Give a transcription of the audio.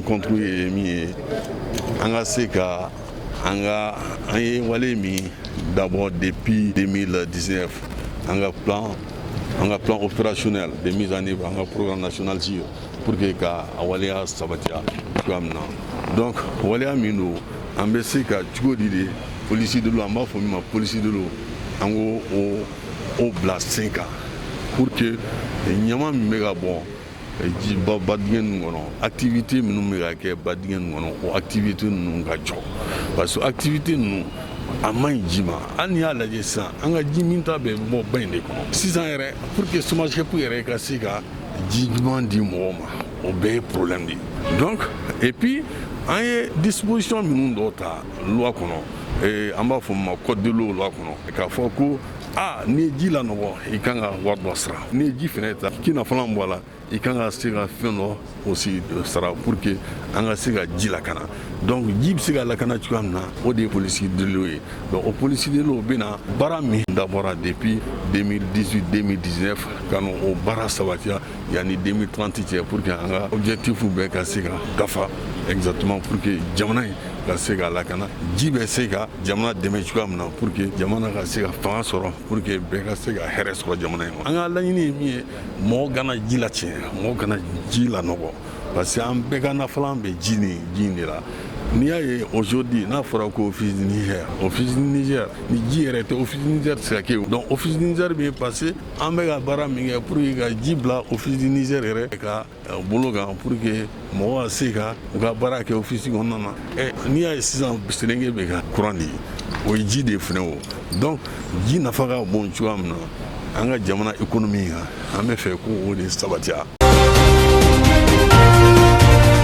rencontre ye min ye an ka se ka an ka an ye wale min dabɔ depuis 2019 an ka plan an ka plan opérationnel de mise en œuvre an ka programme national gire pour que ka a waleya sabatiya cogoya min na donc waleya min don an bɛ se ka cogo di de police de l'eau an b'a fɔ min ma police de l'eau an ko o o bila sen kan pour que ɲaman min bɛ ka bɔn jiba badingɛ ninnu kɔnɔ activité minnu bɛ ka kɛ badingɛ ninnu kɔnɔ o activité ninnu ka jɔ parce que activité ninnu a man ɲi ji ma hali n'i y'a lajɛ sisan an ka ji minta bɛ bɔ ba in de kɔnɔ sisan yɛrɛ pour que somagep yɛrɛ ka se ka ji ɲuman di mɔgɔ ma o bɛɛ ye problème de ye donc et puis an ye disposition minnu dɔ ta loi kɔnɔ ee, an b'a fɔ ma code de l'eau loi kɔnɔ k'a fɔ ko a n'i ye ji lanɔgɔ i kan ka wari dɔ sara n'i ye ji fɛnɛ ta k'i nafalan bɔ a la i kan ka se ka fɛn dɔ aussi sara pour que an ka se ka ji lakana donc ji bɛ se ka lakana cogoya min na o de ye police de l'eau ye donc o police de l'eau bɛna baara min dabɔra depuis 2018 2019 ka n'o baara sabatiya yanni 2030 cɛ pour que an ka objectif bɛɛ ka se ka dafa exactement pour que jamana in ka se ka lakana ji bɛ se ka jamana dɛmɛ cogoya min na pour que jamana ka se ka fanga sɔrɔ pour que bɛɛ ka se ka hɛrɛ sɔrɔ jamana in ma an ka laɲini ye min ye mɔgɔ kana ji latiɲɛ mɔgɔ kana ji lanɔgɔ parce que an bɛɛ ka nafalan bɛ ji ni ji de la n'i y'a ye aujourd'hui n'a fɔra ko office du niger office du niger ni ji yɛrɛ tɛ office du niger tɛ se ka kɛ donc office du niger bɛ passer an bɛ ka baara min kɛ pour que ka ji bila office du niger yɛrɛ ka bolo kan pour que mɔgɔ ka se ka u ka baara kɛ office kɔnɔna na n'i y'a ye sisan selenge bɛ ka kuran di o ye ji de fɛnɛ wo donc ji nafa ka bon cogoya min na an ka jamana économie kan an b'a fɛ k' o de sabatiya